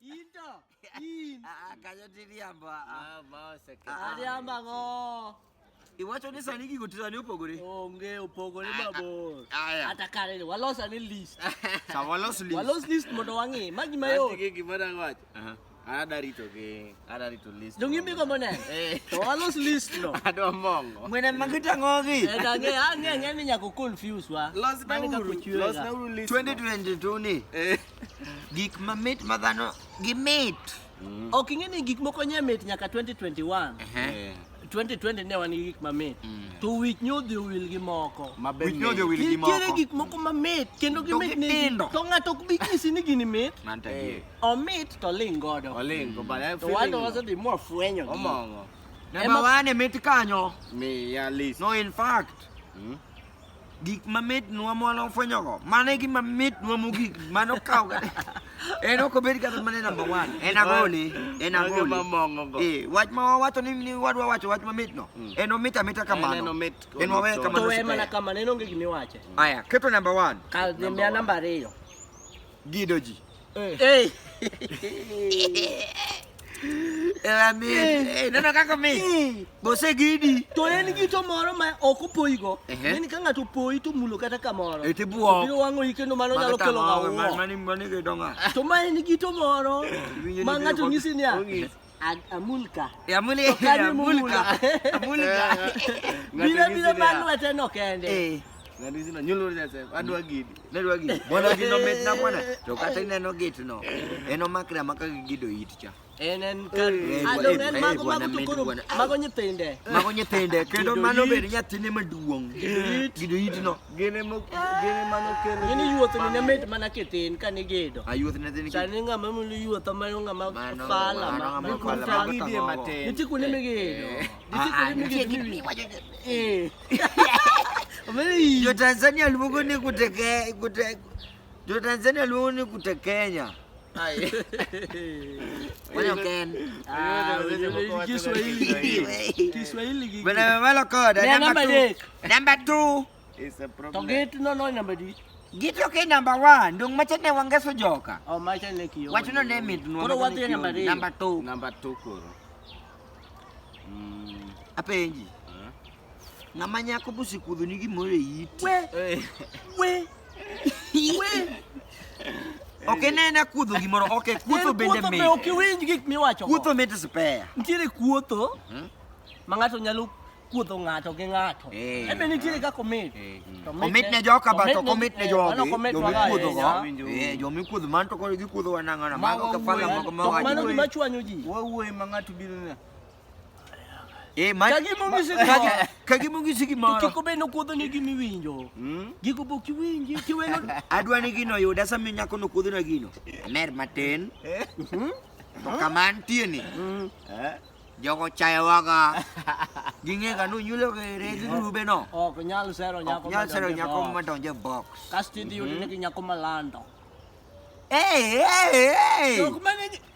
into in akaja tiriambo ah ma se ke ariambo ngo iwacho ni sani gigo tira ni opogore onge opogore babo ata kare ni walos ani list sa walos list walos list mondo wangi magi mayo ati gi mara ngwach ada rito gi ada rito list dongi mi go mone to walos list no ado mongo mwene magita ngogi eta nge ange nge ni nyako confuse wa los na uru los na uru list 2022 ni Gik mamit ma dhano gi mit. Mm. Ok ing'e ni gik moko nye mit nyaka 2021. Eh. 2020 ne wan gi gik mamit. Mm. To wich nyodhi owil gi moko. Mabe wich nyodhi owil gi moko. Nitiere gik moko mamit kendo gimit ni to ng'ato ok bi nyisi ni gini mit. Eh. Omit to ling godo. Oling go but I feel. To wando wasedhi mwa fwenyo. Omongo. Namba wane mit kanyo. Mi ya list. No in fact. Mm. gik mamit nwa mwana ofwenyogo mano e gima mit nwa mogik mano kaw kata en ok obed kata mana namba one en agole en Mago agole mamong'ogo. Eh, wach ma wawacho ni ni wadwa wacho wach mamitno Mm. en omit amita En kamano en omit kod en wawe so. kamano to en mana super. kamano en onge gima iwache aya keto namba one Ka- miya namba ariyo Gido ji. Eh. Ewa mi, eh, neno kaka mi. Bose gidi. To en gi to moro ma ok opoyigo. Ehe. Ni ka ng'ato opoyi to mulo kata kamoro. Eti buo. Biro wang'o yi kendo mano nyalo kelo ng'awo. Mani mani gidonga. To ma en gi to moro Winjo ni ma biro ng'ato kod- nyisi niya. Ong'is. Amulka. Eh, amuli, eh, Tokani amulka. Amulka. Bila bila manu ateno kende. Eh. Ngani sino nyulu sese adwa gidi. Nadwa gidi. Mwana gino met na mwana. To kata ineno git no. Eno makra maka gido it cha. En en kar. Adong en mago mago tukuru. Mago nyithinde. Mago nyithinde. Kendo mano bed nyathine maduong'. Gido it no. Gine mo gine mano kelo. Gine yuotho ni mit mana kitin ka ni gedo. Ayuoth ne tin. Sani nga ma mulu yuotho ma nga ma fala ma. Ni ku ta gidi e matin. Ni tiku ni mi gedo. Eh. Ni tiku ni mi ah, ah, gedo. Ni wajo. Eh. Yo Tanzania luongo ni kuteke kuteke Jo Tanzania luongo ni kute Kenya. Bwana koda number 2. Number 2. Is a problem. To get no no number 2. Gito ke number 1, ndong macha ne wangeso joka. Oh macha ne kiyo. Wacho no name it. Koro wadhi number 2. Number 2. Number 2 koro. Mm. Apenji. Ng'ama nyako bosekudho ni gimoro e iti. We. We. We. Ok inene kudho gimoro, ok kudho bende mit. Kudho be ok iwinj gik miwacho. Kudho mit spare. Nitiere kuotho. Mhm. Ma ng'ato nyalo kuodho ng'ato gi ng'ato. Eh. Ebe nitiere kaka omit. Eh, mm. Omit ne joka ba to komit ne eh, jogi. Jomikuodho go. Jomikuodho man to koro gikuodho wanang'ana. Mago kafala mago ma wacho. Mano gima chwanyo ji. Wawuoye ma ng'ato biro ne. Eh, ma- Ka gima ong'isi ma- gimoro. ka- ka gima ong'isi To gimoro kik obed nokuodho ni gima iwinjo. Mm. Gigo be ok iwinji, tiweno. adwa ni gino oyuda sami nyako nokuodhona gino amer matin to kama antieni Eh? jogo chayowaga ging'ega nonyulo ere gi grubeno Ok nyal sero nyako nyal sero madonjo e nyako box. madonjo e box Kasto idhi yudone gi nyako malando. Hey, hey, hey! Jok mane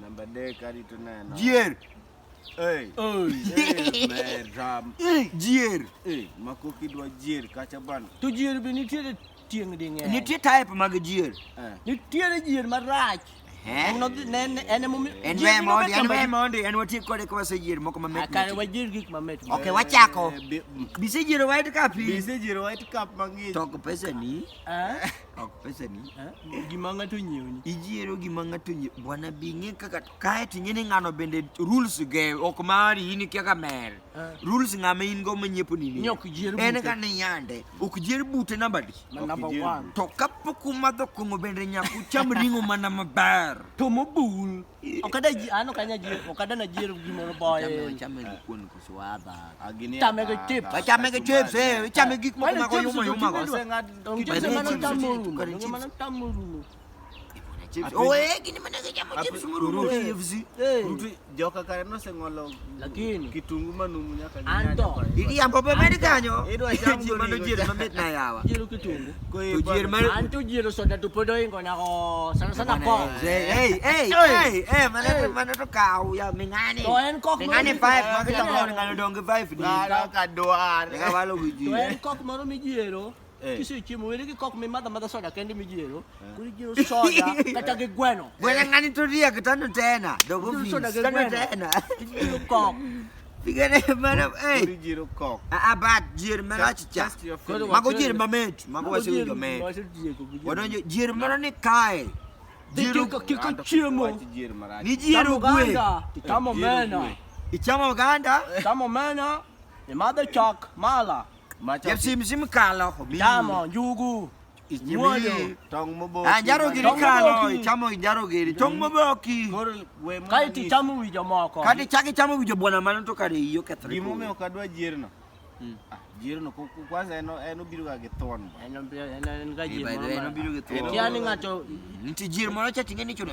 Namba dek arito neno. Jier. Hey. Oh, yeah. Ram. Jier. Hey, makoki dwa jier kacha bana. To jier be nitiere tieng' ding'eny. Nitie type mag jier. Eh. Nitiere jier marach. En nodhi ne en en mo en we mondi en we mondi en wati kode kwa se jier moko mamit. Akare wa jier gik mamit. Okay, wachako. Eh, Bise jier white cup. Bise jier white cup mang'ich. Tok pesa ni. Eh? Ok, pesa ni. Eh? Gima ng'ato nyiewni. Ijiero gima ng'ato nyie. Bwana bi ng'e kaka kae to ing'e ni ng'ano bende rules ge ok mari in kia kamer. Eh. Rules ng'ama in go manyiepo ni ni. Nyok jier bute. En ka ni yande. Ok jier bute namba di. Ma Ok number ijier one. bute. To kapok umadho kong'o bende nyaka ucham ring'o mana maber. To mobul. Okada ji ano kanya ji okada na jiro gi moro boy. Chame gi kuon ko swada. Agini. Chame gi chips. Ba chame gi chips eh. Chame gik moko ma ko yuma yuma ko. Chips mano tamuru. Chips mano tamuru. Oye, gini mana ke chamo chips muru. Rutu joka kare no se ngolo. Lakini kitungu manumu nyaka nyanya. Anto. Idi ambo be mani kanyo. Ido acham go mano jiro mamit na yawa. Jiro kitungu. Ko jiro mani. Anto jiro soda tu podo ingo na ko sana sana ko. Hey hey hey hey mane to mane to kau ya mingani. To en kok. Mingani five magi to ngani ngani dongi five di. Na ka doar. Ka walo wiji. To en kok mano mi jiro. Eh. Kisio chiemo wele ki kok mi madha madha soda kendi mi jero. Eh. Kuri jero soda kata gi gweno. Wele ngani to ria kitano tena. Dogo fi. Soda gi gweno. Tena. Jero kok. Pigane mana eh. Kuri jero kok. A ah, a ah, bat jero mana chicha. Mago jero mamet. Mago wasi jo me. Wado jero mana ni kai. Jero kok ki chiemo. Ni jero gwe. Tamo mena. Ichamo ganda. Tamo mena. Imadha chok mala. Ma chok- Jepsim sim kalo omiyi. Chamo njugu. Ichimi, Muoyo. Tong' moboki. Ah, jaro giri Tong' kalo, moboki. ichamo jaro giri. Tong' moboki. Koro we mondo Kae anyis- tichamo wi jomoko. Kati chak ichamo winjo bwana mano to kare iyi okethre. Gimomiyo ok adwa jierno. Mm. Ah, Jierno ko- ko- kwanza en en obiro ga gi thon. ba. En obi- en- en ga Eh, ji by the moro way, ma- nobiro gi thuon. Kia ni ng'ato Nti jir moro cha ting'e ni chuno.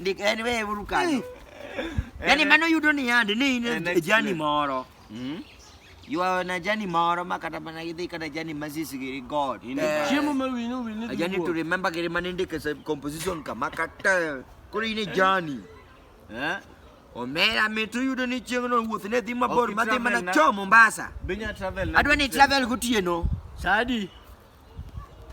Ndik en we uru kanyo. Yaani mano yudo ni yande ni in An a journey experience. moro. Mm? You are on a journey moro ma kata mana idhi kata journey ma sis giri God. In Eh, a- Chiemo ma wini wini A journey to remember giri mane ndike sa composition kama kata koro in a journey. Eh? Omera mit uyudo ni chieng' no wuoth ne dhi mabor Ok ma dhi itravel mana na- cho Mombasa. Binya travel na- Adwa ni travel gotieno. Sadi.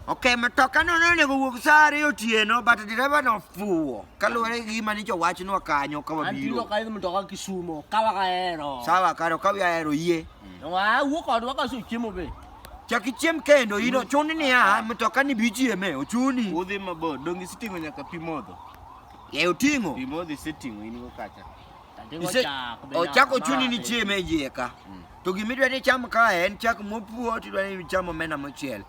Ok, matoka no nonego wuog saa ariyo otieno but dereva nofuwo kaluwore gi gima nyicha owachnwa kanyo An tilo kawabiro. ka idhi mtoka Kisumo, kawa kahero. Sawa kare okawi ahero yie. Wa wuok odwa ka suchiemo be. Chak ichiem kendo ino chuni niya mtoka ni bichieme ochuni. Udhi mabor, donge siting'o nyaka pi modho? Ye oting'o. Pi modho iseting'o in go kacha. Ise, o chak ochuni ni chieme e iye ka. Mm. To gima idwa ni icham kae en chak mopuo to idwa ni icham omena mochiel.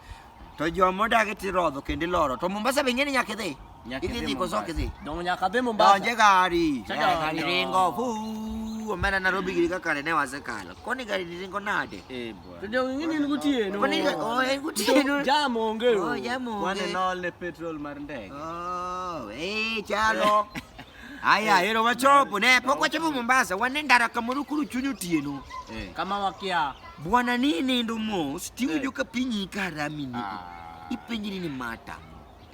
To joma odagi to irodho kendo iloro. To Mombasa be ing'e ni nyaka idhi. Idhi dhi koso ok idhi. Donge nyaka dhi Mombasa. Donje gari. Gari ringo. Fuu. Omena Nairobi giri kaka ne wasekalo. Koni gari ringo nade? Eh bwana. To donge ing'e ni en gotieno. Koni oh en gotieno. Jam onge. Oh jam onge. Wane nol ne petrol mar ndege. Oh, eh chalo. Aya, hero wachopo ne pok wachopo Mombasa, wane ndara kamoro kuru chuny otieno. Eh. Kama wakia. Bwana ni nindo mos, tiwinjo eh. ka piny ikarami ni. Ah. Ipenjiri ni mata.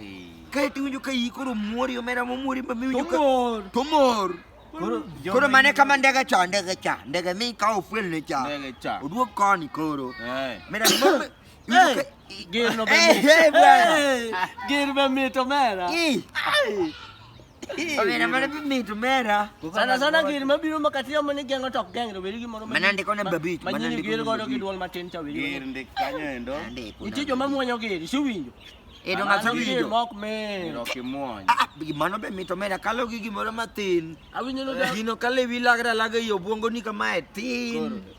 Eh. Kae tiwinjo ka iyi koro muori omera momuori ma miwinjo ka... Tomor! Tomor! Koro mane kama ndege cha, ndege cha, ndege mi ka ofwel ne cha. Ndege cha. Oduok koni koro. Eh. Mera mama... Gir no Hey, bemito. hey, bwana. Hey, Gir bemito mera. Ih. Omera mana bimito mera. Sana sana gir mabiro makati yamo ni gengo tok geng to weri gimoro. Mana ndiko na babich, mana Manyini ndiko gir na godo babich. gi duol matin cha weri. Gir ndik kanyo endo. Andiko. Nitie joma muonyo gir, siwinjo. Edo Mano ng'ato gir winjo. mok me. Gir ok imuony. Ah, ah, gi mano be mito mera kalo gi gimoro matin. Awinjo no Gino kale wi lagra laga yo buongo ni kamae tin.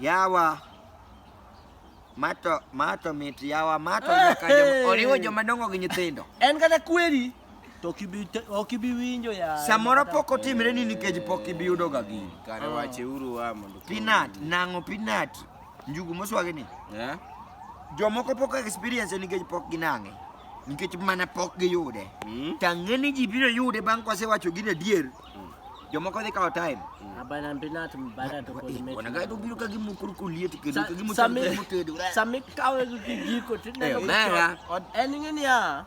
Yawa mato mato mit yawa mato nyaka joma oriwo joma dongo gi nyithindo. En kata kweri to ok ibi te- ok ibi winjo ya. Samoro pok otimre ni nikech pok ibi yudo ga gini. Kare wache uru wa mondo. Peanut, nang'o peanut, njugu moswagi ni. Eh? Jomoko pok experience nikech pok ginang'e. Nikech mana pok giyude. Mm. Tang'e ni ji biro yude bang' kwasewacho gin adier. Mm. Jomoko dhi kawo time. Mm. Abana mbinat mbara to kod mechi. Wana gato biro ka gimu kurku lieti kendo ka gimu sami mutedo. Sami kawe gi giko tineno. Mera. En ngini ya.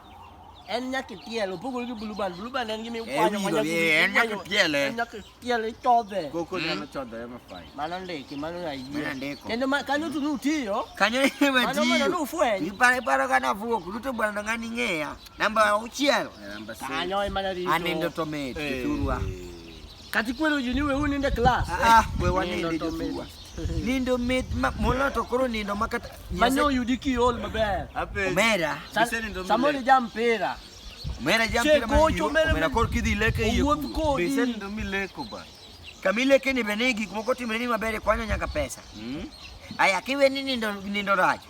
En nyaka tielo pogore gi blue band. Blue band en gimi kwanyo manya. En nyaka tiele. En nyaka tiele chodhe. Koko mm. nyalo chodhe ema fai. Mano ndiki, mano ya yie. Mano ndiko. Kendo kanyo tu nutiyo. Kanyo ema tiyo. Mano mano nufwenyo. Ipare paro kana vuok. Luto bwana ngani ng'eya. Namba auchiel. Namba six. Kanyo ema na rito. Anindo to mit. Eh. Turwa. Kati kwero juni we uninde class. Ah, we waninde joturwa. Nindo mit ma mola to koro nindo makata. Manyo yudi ki ol maber. Ape. Omera. Samoni jam pera. Omera jam pera. Kocho omera. Omera kor kidhi leke yie. Wuoth kodi. Bise nindo mi leko ba. Kamile keni benegi kumoko timreni maber kwanyo nyaka pesa. Mm. Aya kiwe ni nindo nindo racho.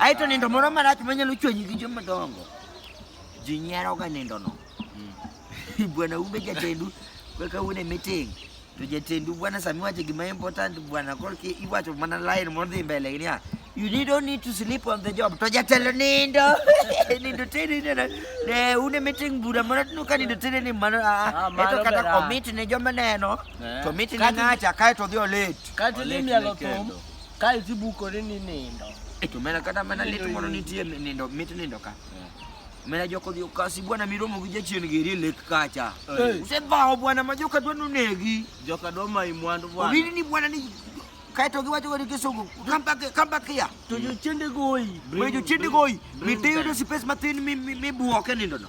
aito nindo moro marach manyalo chwenyi gi joma dongo ji nyieroga nindono hmm. bwana umbe jatendu kaka une meeting to jatendu bwana sami wache gima important bwana korki iwacho mana line modhi mbele gini ah, you need don't need to sleep on the job to jatelo nindo nindo tini nena ne une meeting bura mara tinu ka nindo tini ni mano ah, ah, ah eto kata commit ne joma neno eh. to miti ne ng'acha kae to odhi olit kati ni mielo thum kae to ibukori ni nindo eh, to mena kata mana lit mondo nitie nindo mit nindo ka eh. mena joko dhi okasi bwana miromo gi jachien giri e lek kacha usedhawo bwana ma joka dwa nonegi joka dwa mai mwandu bwana owini ni bwana ni kae to giwacho kodi kisungu kambakia to jochiende goyi jochiende goyi mitiyudo space mathin mibuoke nindono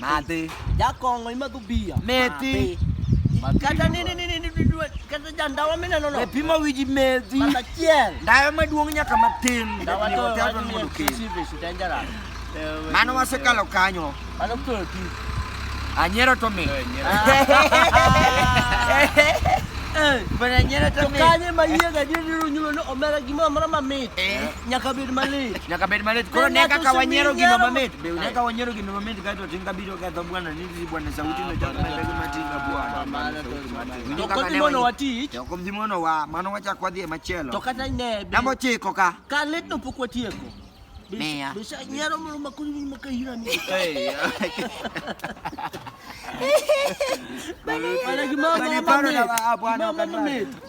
Madhi. Jakongo ima dhu bia. Methi. Kata nini nini nini kata ja ndawa mina nono. E pimo wiji methi. Mata chiel. Ndawa maduong' nyaka matin. Ndawa to wato ni mondo kesi. Sisi dangerous. Mano wasekalo kanyo. Mano kutoro ti. Anyero to mi. Bana anyero to mi. Kanye ma yiega diri runyulo no omera gimoro mara mamit. Eh. Nyaka bed malit. Nyaka bed malit. Koro ne kaka wanyiero gino mamit. Be ne kaka wanyiero gino mamit kae to tinga biro ketho bwana ni si bwana sauti na chakma ndio kama tinga bwana. To kwa dimono watich. To kwa dimono wa mano wacha kwa dhie machielo. To kata ne. Namo chiko ka. Ka let no pokwa tieko. Meya. Bisa nyiero mo makuri ni makahira ni. Eh. Bana gimama. Bana gimama.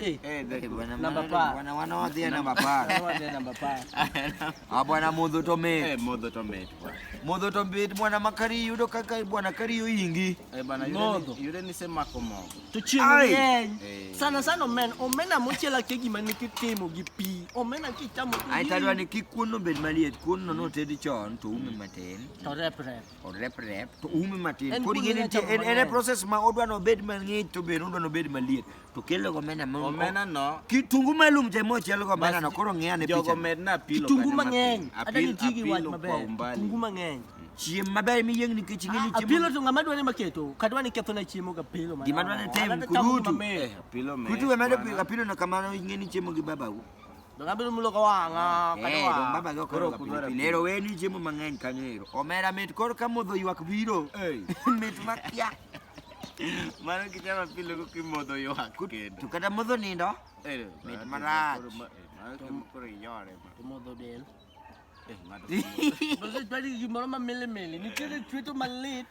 Eh, eh, eh, ah, bwana modho to mit modho to mit modho to mit bwana makari yudo kaka bwana kari yo ingi modho yude ni se mako mogo to chieng' ng'eny sana sana omena omena mochiel ake gima ne kitimo gi pi omena kichamo ai tadwa ni kik kuon no bed maliet kuon no notedi chon to ume matin to rep rep orep rep to ume matin En kodi kuno gini nyocha nitie en en e mang'eny. process ma odwa no bed mang'ich to be odwa no bed maliet to kelo go mena mo Omena no. kitungu malum te mo chelo go mena no koro ng'eya ne Jogo picha medna apilo kitungu kata mang'eny matin. hata Apil- nitigi wach apilo kwa maber umbali. kitungu mang'eny chiem maber miyieng nikech ing'e ni Ah, apilo chiemo to ng'ama dwani maketo kadwa ni ketho na chiemo ga apilo Gima dwani tem, kudutu. Eh, apilo me- kutu we medo bwana. pilo apilo no kamano ing'e ni chiemo gi babagu Ngabili muloka wanga kana eh, wa. Ndo baba zoko ro kupira. Lero weni jemu mang'eny kanero. Omera met kor ka modho ywak biro. Eh. Met makia. Mano kichama pile ko kimodho ywak. To kata modho nindo. Eh. Met marach. Mano kimodho yore. Kimodho del. Eh, ng'ato. Bose twali gimoro ma mele mele. Nitiere chweto malit.